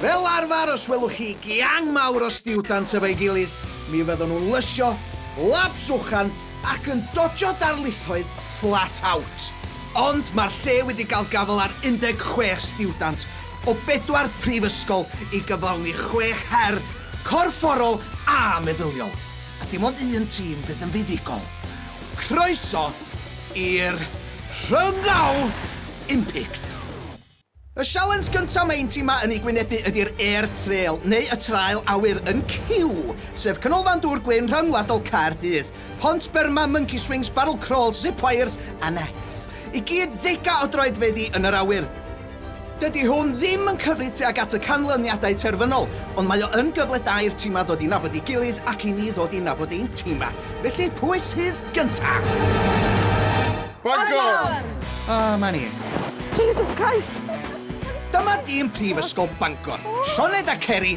Fel arfer, os welwch chi giang mawr o stiwdant efo'i gilydd, mi fyddan nhw'n lysio, labs uchan, ac yn dodjo darlithoedd flat out. Ond mae'r lle wedi cael gafael ar 16 stiwdant o bedwar prifysgol i gyflawni chwech her corfforol a meddyliol. A dim ond un tîm fydd yn fuddugol. Croeso i'r Rhyngau Impics! Y sialens gyntaf mae ein timau yn ei gwynebu ydi'r Air Trail, neu y Trael Awyr, yn Kew, sef Canolfan Dŵr Gwyn Rhyngwladol Caerdydd. Pont byrma, monkey swings, barrel crawls, zip wires a nets. I gyd ddegau o droedfeddi yn yr awyr. Dydy hwn ddim yn cyfri tuag at y canlyniadau terfynol, ond mae o yn gyfle da i'r timau ddod i nabod ei gilydd ac i ni ddod i nabod ein timau. Felly, pwy sydd gyntaf? Bangor! O, 'ma ni. Jesus Christ! Dyma dîm Prifysgol Bangor, Sioned a Ceri!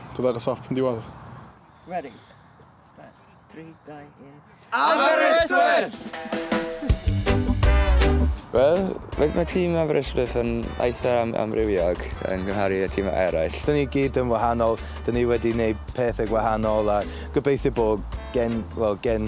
Dod ar y top yn diwedd. Ready. 3, 2, 1. Aberystwyth! Wel, mae tîm Aberystwyth yn eitha am amrywiog yn gymharu y tîmau eraill. Dyn ni gyd yn wahanol, dyn ni wedi gwneud pethau gwahanol a gobeithio bod gen, well, gen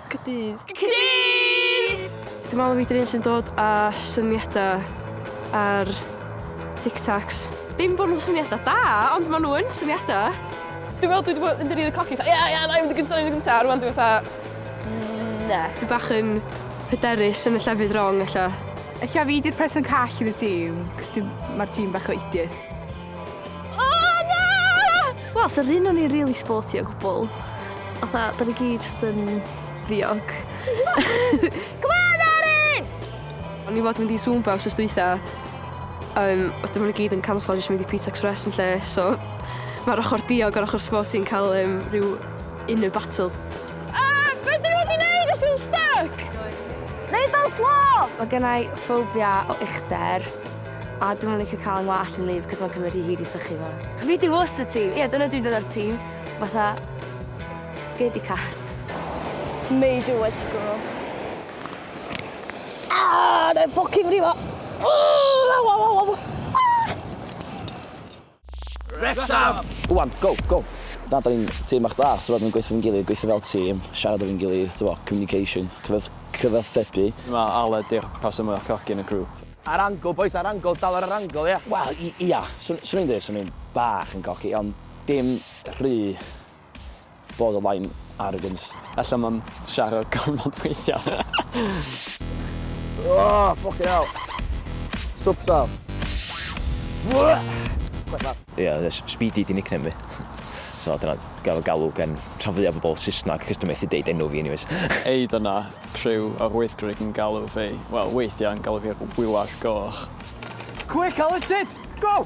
Cydydd. Cydydd! Dwi'n meddwl fi 'di'r un sy'n dod â syniadau ar Tic Tacs. Dim bod nhw'n syniadau da, ond maen nhw yn syniadau. Dwi'n meddwl dwi wedi bod yn rili cocky, fatha ie ie na i fynd yn gynta, na i fynd yn gynta, a rwan dwi fatha na. Dwi bach yn hyderus yn y llefydd wrong ella. Ella fi 'di'r person call yn y tîm, cos dwi... ma'r tîm bach o idiot. Wel, so rhyn o'n i'n really sporty o gwbl. Otha, da ni gyd just yn ddiog. Come on, Erin! O'n i fod mynd i Zumba os ystwytha. Um, a dyma ni gyd yn canslo jyst mynd i Pizza Express yn lle, so mae'r ochr diog o'r ochr sporty yn cael um, rhyw inner battle. Ah, beth dyn nhw wedi neud os nhw'n stuck? Neud o'n slo! Mae gennau ffobia o uchder. A dwi'm yn licio cael 'y ngwallt yn wlyb 'c'os ma'n cymryd rhy hir i sychu fo. Fi di was y tîm. Ie dyna dwi'n dod o'r tîm fatha scaredy cat. Major wedge girl. Aaahh! Nai ffwcin frifo! Aaahh! Wrecsam! Go on, go, go! Na, da ni'n tîm bach da, t'mod, ni'n gweithio efo'n gilydd, gweithio fel tîm, siarad efo'n gilydd, t'mod, communication, cyfath- cyfathrebu. Mae Aled di'r person mwya cocky yn y grŵp. Ar angle bois, ar angle, dal ar yr angle, ia? Wel, i- ia, swn, swn i'n deud swn i'n bach yn cocky, ond dim rhy Borderline arrogance. Ella mam siarad gormod weithia. Aaahh ffycin hel! Stwp tal. Ia, Speedy di nickname fi. So dyna gael fy galw gen rhan fwya bobl Saesneg, cos dwi methu deud enw fi anyways. Ei dyna criw yr wythgrig yn galw fi, wel weithiau'n galw fi Wiwar Goch. Quick Alun Sid! Go!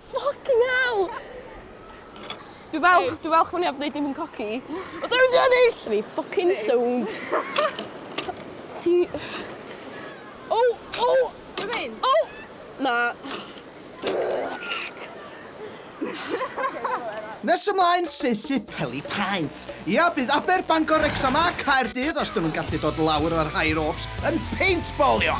Ffycin hell! Dwi falch, dwi falch bo' ni 'eb neud dim yn coci. O dwi mynd i ennill! O'n i ffycin sownd. Ti... O! O! Be' mae'n? O! Na. Nes ymlaen, saethu peli paent. Ia, bydd Aber, Bangor, Wrecsam a Caerdydd, os 'dyn nhw'n gallu dod lawr ar High Ropes, yn peintbolio!